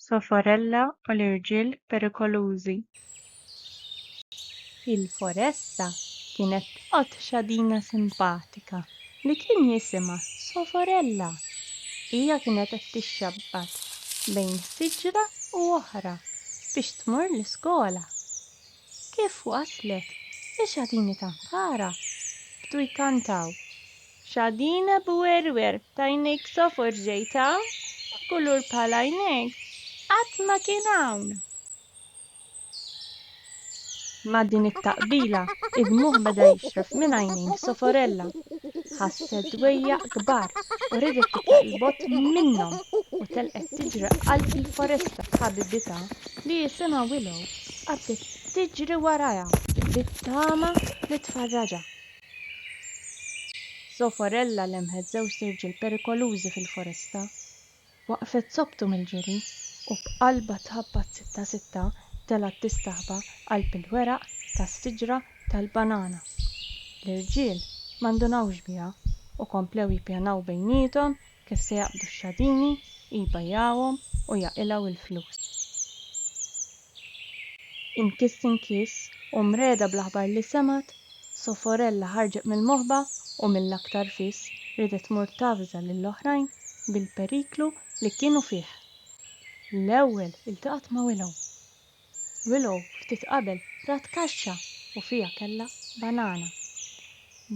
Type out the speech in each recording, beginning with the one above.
Soforella u l-irġiel perikolużi. Fil-foresta kienet tqgħod xadina simpatika li kien jisimha Soforella. Hija kienet qed tixxabbad bejn siġra u oħra biex tmur l-iskola. Kif waslet, ix-xadini ta' Mpara bdu jkantaw Xadin abu werwer t'għajnejk sofor ġejtha, kulur bħal għajnejk qatt ma kien hawn! Ma' din it-taqbila id-dmugħ beda jixref minn għajnejn Soforella. Ħasset dwejjaq kbar u riedet titlaq 'l bogħod minnhom u telqet tiġri qalb il-foresta b'ħabibitha li jisimha Willow qabdet tiġri warajha bit-tama li tfarraġha. Zofarella lemħet żewġt irġiel perikolużi fil-foresta. Waqfet sobbtu mill-ġiri u b'qalbha tħabbat sitta sitta telgħet tistaħba qalb il-weraq tas-siġra tal-banana. L-irġiel ma ndunawx biha u komplew jippjanaw bejniethom Kif se jaqbdu x-xadini, jbajjagħhom u jaqilgħu l-flus. Inkiss inkiss u mregħda bl-aħbar li semgħet, Soforella ħarġet mill-moħba u mill-aktar fis riedet tmur tavża lill-oħrajn bil-periklu li kienu fih. L-ewwel iltaqgħet ma' Willow. Willow ftit qabel rat kaxxa u fiha kellha banana.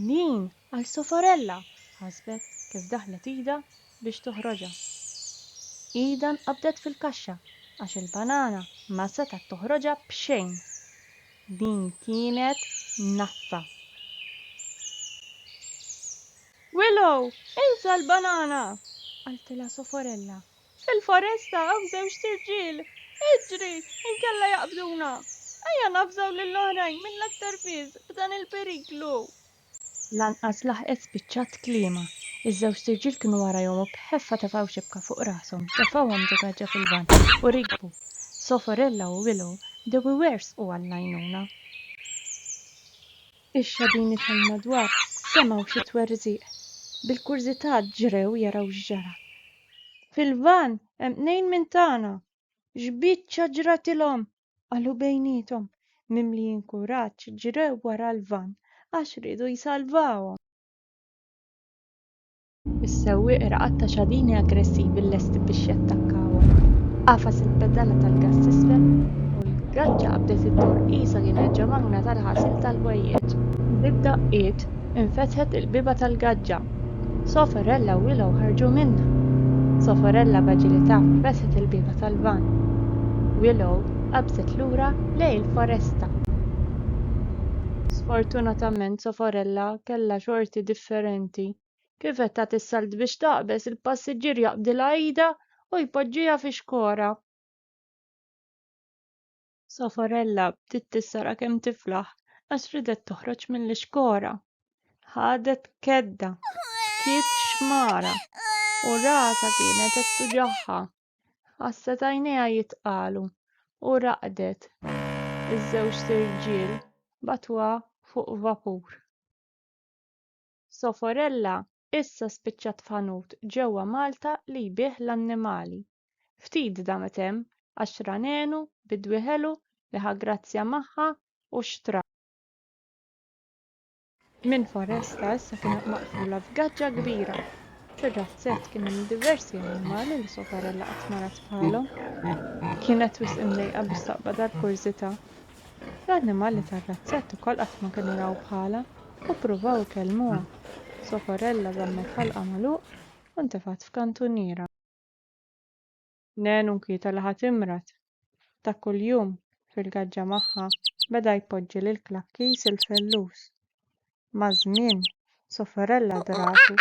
Din Għal Soforella! ħasbet kif daħlet idha biex toħroġha. Idha nqabdet fil-kaxxa għax il-banana ma setgħet toħroġha b'xejn. Din kienet nassa! Willow, insa l-banana! qaltilha Soforella. Fil-foresta hawn żewġt irġiel! Iġri, inkella jaqbduna! Ejja navżaw lill-oħrajn mill-aktar fis b'dan il-periklu! Lanqas laħqet spiċċat tliema, iż-żewġt irġiel kienu warajhom u b'ħeffa tefgħu xibka fuq rashom, tefgħuhom ġo gaġġa fil-lvant u rikbu. Soforella u Willow bdew iwerżqu għall-għajnuna. Ix-xadini tal-madwar semgħu xi twerżiq. Bil-kurżità ġrew jaraw x'ġara. Fil-lvant hemm tnejn minn tagħna! X'biċċa ġratilhom? qalu bejniethom, mimlijin kuraġġ ġrew wara l-vann għax riedu jsalvawhom. Is-sewwieq raqad ta' xadini aggressivi lesti biex jattakkawhom. Għafas il-pedala tal-gass t'isfel u l-graġġa qabdet iddur qisha kienet ġemagna tal-ħasil tal-ħwejjeġ. Bid-daqqiet infetħet il-bieba tal-gaġġa. Soforella u Willow ħarġu minnha. Soforella b'aġilità fetħet il-bieba tal-vann. Willow qabżet lura lejn il-foresta. Sfortunatament Soforella kellha xorti differenti. Kif qed tagħti s-salt biex taqbeż, il-passiġġier jaqbdilha idha u jpoġġiha fix-xkora. Safarella bdiet tissara kemm tiflaħ għax ridet toħroġ mill-ixkora. Ħadet kedda, bkiet xmara u rasa kienet qed tuġagħha. Ħasset għajnejha jitqalu u raqdet. Iż-żewġt irġiel batuha fuq vapur. Safarella Issa spiċċat f'ħanut ġewwa Malta li jbigħ l-annimali. Ftit damet hemm għax ra nenu bi dwieħelu li ħa grazzja magħha u xtra. Minn foresta issa kienet maqfula f'gaġġa kbira. Fir-razzett kien hemm diversi annimali li Soparella qatt ma rat bħalhom. Kienet wisq imdejqa biex taqbad għall-kurżità L-annimali tar-razzett ukoll qatt ma kienu raw bħalha u ppruvaw ikellmuha. Socorella żammet ħalqha magħluq u ntefgħet f'kantuniera. Nen u nkwieta li ħa timrad. Ta' kuljum, fil-gaġġa magħha, beda jpoġġi lil Klakkis il-fellus. Maż-żmien, Socorella dratu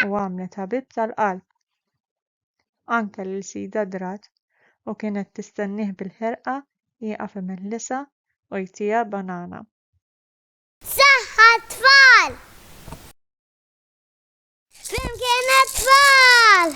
u għamlet ħabib tal-qalb. anke lil sidha Drat u kienet tistennieh bil-ħerqa jieqaf imellisa u jtiha banana. Saħħa għat-tfal! Flimkien għat-tfal!